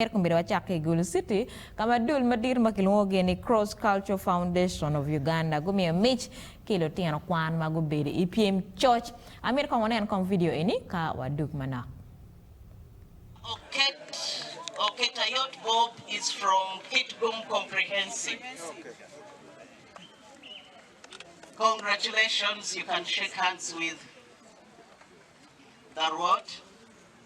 Myero omyero wacak ki i Gulu City ka ma dul madito ma kilwongogi ni Cross Cultural Foundation of Uganda gumiyo mic ki lutino kwan ma gubedo i pyem coc. Amito kong wunen kong vidio eni ka wadug manok. Oket Oketayot Bob is from Kitgum Comprehensive Congratulations you can shake hands with the Ruot.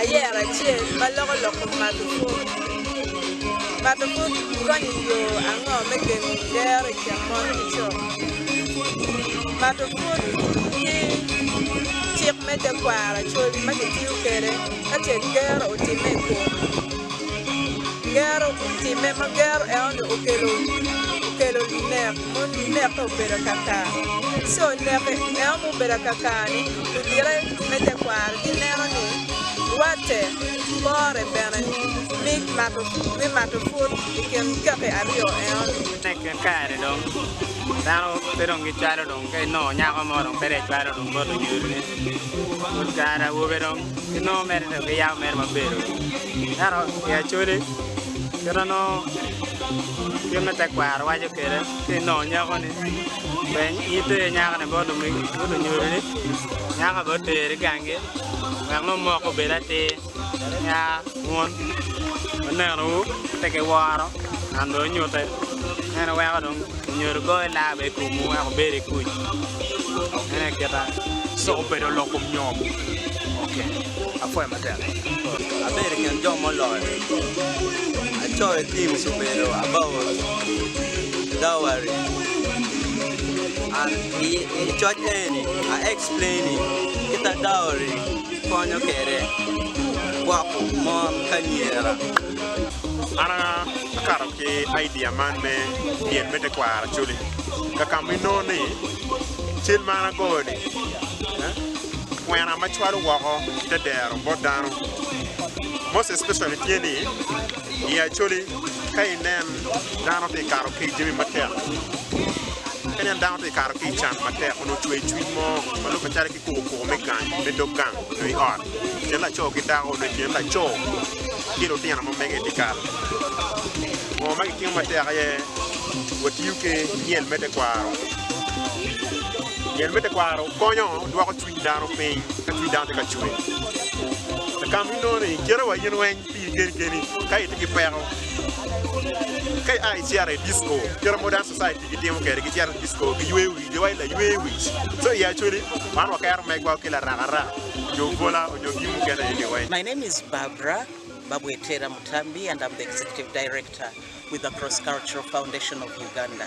ayero acel ma loko lok kom mato pwod. Mato pwod konyo i yo ango me gengo gero i kin mon ki co? Mato pwod ki cik me tekwaro col ma kitiyo kwede ka ce gero otimme i kome. Gero otimme ma gero eno ni okelo nek. Moni leke obedo akakar. Co leke meno ma obedo akakar-ni odite me tekwaro gineno ni watte pore bene me mato pwod i kin kaki aryo eno-ni. I kin kare-ni dong dano pe dong gicwalo dong ka inongo nyako mo dong pe dong ecwalo dong bot onyodine. Pol kare awobe dong ginongo mere dong giyabo mere mabedo. Ento i Acholi Kit ma nongo gin me tekwaro waco kwede ka inongo nyako ni peny in iter i nyaka ni bot lumegi ki bot lunyodo ni nyaka bene oter i gangi wek nongo moko obed atir nia wun luneno wu pe ki woro man dong nyute meno weko dong lunyodo goyo laa bene i kom wu wek wubed i kuc meno aye kite. Abedo i kin jo muloyo. Acoyo tim Subedo Abao Dowari and i coc eni a explaini kita dowry konyo kwede gwoko mon ki anyira. An akato ki idea man me pien me tekwaro actually kakamo inongo ni cal man agoyo ni Kwena ma cwalo woko ki te dero bot dano, most especially, tye ni i Acholi ka inen dano tye ka kato ki i jami matek, ka inen dano tye ka kato ki i can matek onongo ocweyo cwiny mo ma lubbe calo ki kuko kuko me gang, me dog gang nyo i ot, i kin laco ki dako nyo i kin laco ki lutino ma mege i dyekal. Ngo ma gitimo matek aye watiyo ki myel me tekwaro. Gen me tekwaro konyo dwoko cwiny dano piny ka cwiny dano tye ka cwer. Lakam ni nongo ni kite wa in weng pi in keni keni ka itye ki peko ka ia icito i disco kite modern society gitimo kwede gicito i disco giywe wi jo wa laywe wic so i actually wan wakero megwa ki larakara onyo gola onyo gin mukene eni weng. My name is Barbra Babwetera Mutambi and I'm the Executive Director with the Cross Cultural Foundation of Uganda.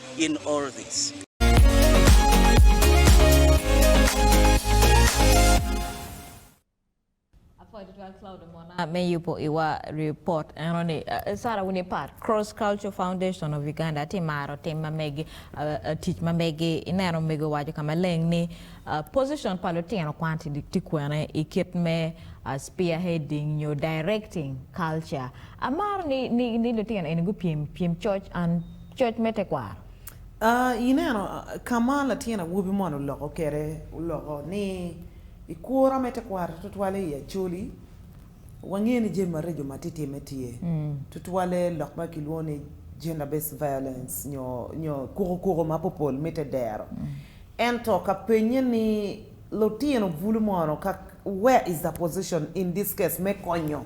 in all this. Apwai tutwal Cloud Omona me yubo iwa report eno ni. Sarah wun ipar Cross Culture Foundation of Uganda ti maro tim ma megi, tic ma megi. Ineno mego owaco ka maleng ni position pa lutino kwan ti kwene i kit me spearheading nyo directing culture. Amaro ni lutino eni gupyem pyem coc an coc me tekwaro. A Ineno ka ma latin awobi moni oloko kwede? Oloko ni, I kura me tekwaro tutwalle i Acholi, wangeyo ni jami mareco ma titimme tye, tutwalle lok ma kilwongo ni gender-based violence nyo kukukuku ma popol mitte dero. Ento ka pennye ni, Lutino bulu mono ka, where is the position in this case me konyo?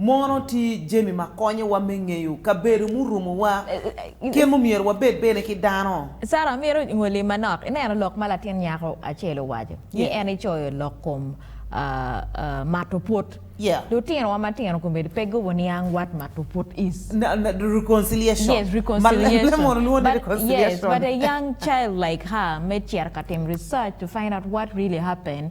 Mono tye jami ma konyowa me ngeyo kabedo murumowa? Kit mumyero wabed bene ki dano? Sara, amito ngoli manok ineno lok ma latin nyako acel owaco ni en icoyo lok kom mato pwod. Lutinowa matino kombeddi pe gubo niang what mato pwod is. Reconciliation. Yes, reconciliation. Yes, but a young child like her me cito ka tim research to find out what really happened.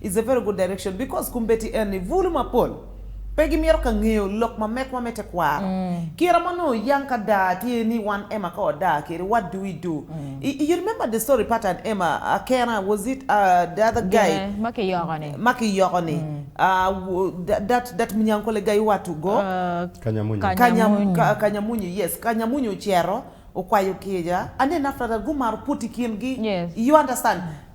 Is a very good direction because kumbedi en ni bulu mapol pe gi mito ka ngeyo lok ma mekwa me tekwaro. Kira ma onongo oyang ka daa tye ni wan Emma ka wadaa kede what do we do i you remember the story part and Emma akena was it the other guy Gine ma ki yoko ni. ma ki yoko ni that that Munyankole guy what to go. Kanyamunyu. Kanyamunyu. Kanyamunyu yes Kanyamunyu ocito okwayo kica and then after that gumaro put i kin gi Yes. you understand.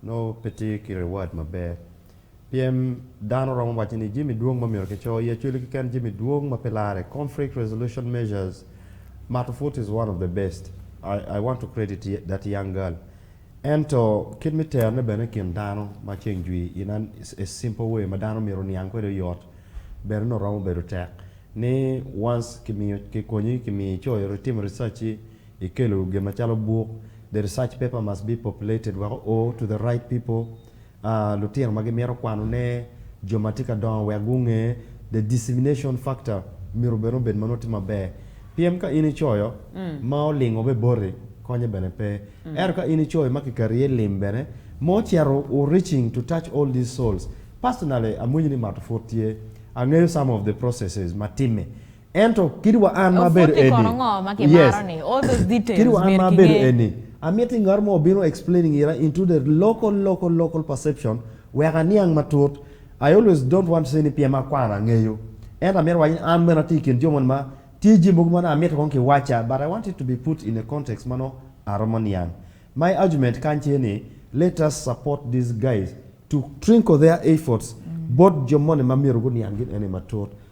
Nongo pe tye ki reward maber. Pyem, Dano romo waco ni jami dwong ma myero kico i Acholi keken jami dwong ma pe larre, conflict resolution measures, mato put is one of the best, I, I want to credit that young girl. Ento kit me terone bene i kin dano ma ceng jwi in an a simple way ma dano myero oniang kwede oyot bene nongo romo bedo tek ni once kimiyo, kikonyi, kimiyo icoyo, itimo research-ci, i kelo gin macalo buk The research paper must be populated weko o to the right people, aa, lutino ma gimito kwano ne, jo ma tye ka dongo wek gunge, the dissemination factor myero bene obed ma nongo tye maber. Pien ka in icoyo ma olingo be boti, konye bene pe. Ento ka in icoyo ma kikati iye lim bene, ma ocito o reaching to touch all these souls, personally amwinyo ni mato pwod tye. Angeyo some of the processes ma timme. Ento kit wa an ma abedo eni. Obwot ni kono ngo ma ki maro ni? All those details myero ki nge. Kit wa an ma abedo eni. Amito ni ngat mo obino explaining ira into the local local local perception wek aniang matut. I always don't want to say ni pien ma akwano angeyo. Ento amito waco ni an bene atye ikin jo moni ma tye jami mogo ma nongo amito kong ki waca but I want it to be put in a context ma nongo aromo niang. My argument kany tye ni let us support these guys to trinkle their efforts both jo moni ma myero guniang gin eni matut.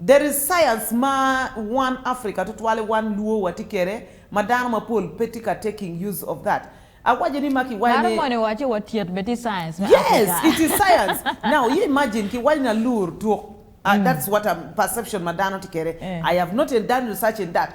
There is science ma wan Africa tutwale wan luo watye kede ma dano mapol pe tye ka taking use of that. Awaco ni ma kiwayo Dano ni. moni owaco wa tyet bene tye science me Yes Africa. it is science now you imagine kiwaco ni alur tuk that's what am perception ma dano tye kede I have not done research in that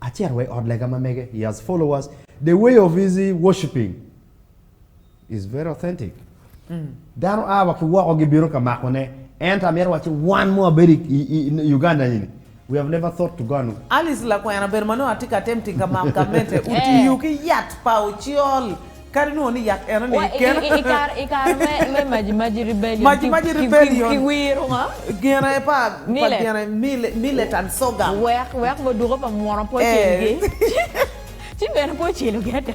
Acito wa i ot lega ma mege, he has follow us, the way of his worshiping is very authentic. Mm. Dano a wa ki woko gibino ka mako ne. Ento amyero waci wan mo abedo i Uganda ni, we have never thought to go and Alice lakwena bedo manongo atye ka tem tika mam ka mete otiyo ki yat pa ocyol Kadi nongo ni yat eno ni kena. I kare me Maji-maji Rebellion ki wiro nga? Gine pa gine Millet and Sorghum. Wek muduko pa munu pe ocel gi. Ci bene pe ocelo gi ada.